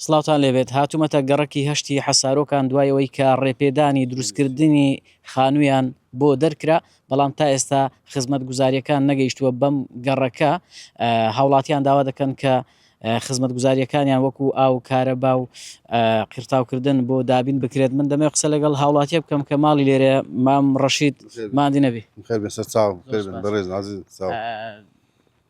سڵاوتان لێبێت هاتومەتە گەڕەکی هەشتی حەسارۆکان دوای ئەوەی کە ڕێپێدانی دروستکردنی خانویان بۆ دەرکرا بەڵام تا ئێستا خزمەت گوزاریەکان نەگەیشتووە بەم گەڕەکە هاوڵاتیان داوا دەکەن کە خزمەت گوزاریەکانیان وەکو ئاو کارەبا و قیرتاوکردن بۆ دابین بکرێت من دەمێ قسە لەگەڵ هاوڵاتیە بکەم کە ماڵی لێرە مام ڕەشید مادی نەبی بەڕێز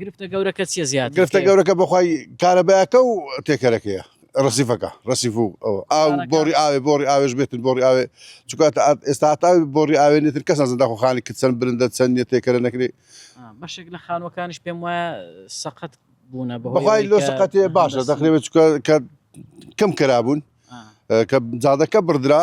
گرفتە گەورەکە چیە زیاد گرفتە گەورەکە بەخوای کارەبایەکە و تێکەرەکەیە ڕسیفەکە ڕسیف و ئاو بۆڕی ئاوێ بۆڕی ئاوێش بێتن بۆڕی ئاوێ چکات ئێستا تا بۆڕی ئاوێ نێتر کەس نازن داخۆخانی کە چەند برندە چەند نیە تێکەرە نەکرێ بەشێک لە خانوەکانش پێم وایە سەقەت بوونە بەخوای لۆ سەقەتێ باشە دەخرێت چکە کە کەم کرابوون کە جادەکە بڕدرا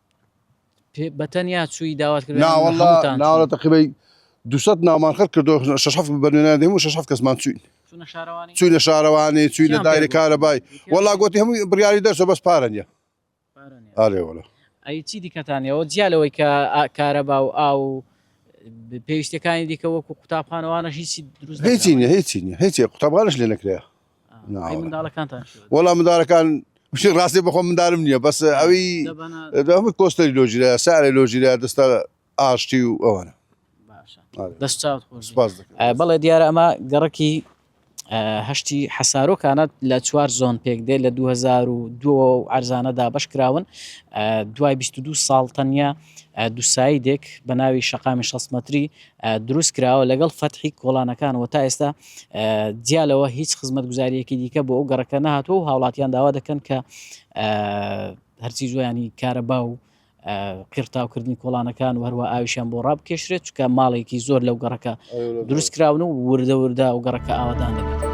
بەتەنیا چووی داوات کرد ناوەڵا ناوە تەقیبەی دوسەد ناومان خەر کردو شش هەفت بەنوێنان دێم و شش هەفت کەسمان چوین چوینە شارەوانی چوینە دایرە کارە بای وەڵا گوتی هەمووی بڕیاری دەرسە بەس پارە نیە ئارێ وەڵە ئەی چی دیکەتانەوە جیالەوەی کە کارەبا و ئا و پێویستەکانی دیکە وەکو قوتابخانەوانە هیچی دروست هیچی نیە هیچی نیە هیچی قوتابانش لێ نەکرێ وەڵا منداڵەکان بشی ڕاستی بەخۆ مندارم نییە بەس ئەوی دەمە کۆستەری لۆژیرە سارێ لۆژیرە دەستە ئاشتی و ئەوانە بەڵێ دیارە ئەمە گەڕکی هەشتی حەسارۆکانە لە چوار زۆن پێک دێ لە 2002 ئەرزانە دابش کراون دوای 22 ساڵ تەنیا دوسایی دێک بە ناوی شقامی 6 متری دروست کراوە لەگەڵ فەتحی کۆڵانەکان و تا ئێستا جیا لەوە هیچ خزمەتگوزاریەکی دیکە بۆ ئەو گەڕەکە نهاتوە و هاوڵاتیان داوا دەکەن کە هەرچی زۆیانی کارە با و قیرتاوکردنی کۆڵانەکان و هەروە ئاویشان بۆ ڕاب کێشرێت چکە ماڵێکی زۆر لەو گەڕەکە دروست کراون و وردە وردە و گەڕەکە ئاوادان دەبێت.